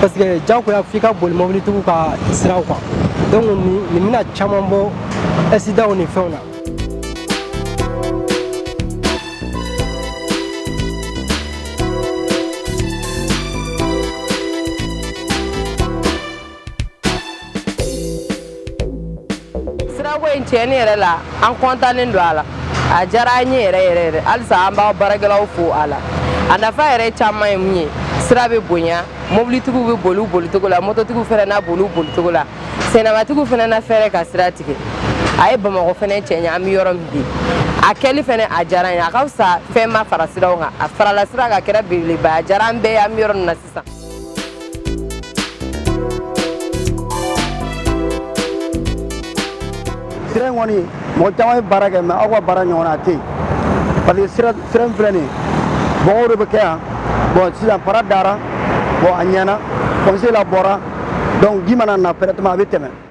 parce que jagoya f'i ka boli mɔbilitigiw ka siraw kan donc nin bɛna caman bɔ accidentw ni fɛnw na sirako in tiɲɛ yɛrɛ la an kɔntannen don a la a diyara an ye yɛrɛ yɛrɛ yɛrɛ halisa an b'a baarakɛlaw fo a la a nafa yɛrɛ caman ye mun ye sira bɛ bonya mobilitigiw bɛ boli u bolicogo la mototigiw fana na boli u bolicogo la sennamatigiw fana na fɛɛrɛ ka sira tigɛ a ye bamakɔ fana cɛɲa an bɛ yɔrɔ min bi a kɛli fana a diyara an ye a ka fisa fɛn ma fara siraw kan a farala sira kan kɛra belebeleba a diyara an bɛɛ ye an bɛ yɔrɔ min na sisan Sasa sira in kɔni mɔgɔ caman ye baara kɛ mais aw ka baara ɲɔgɔnna a tɛ yen parce que sira sira in filɛ nin ye bɔgɔ de bɛ kɛ yan bon sisan fara dara bon a ɲɛna comme sira bɔra donc ji mana na directement a bɛ tɛmɛ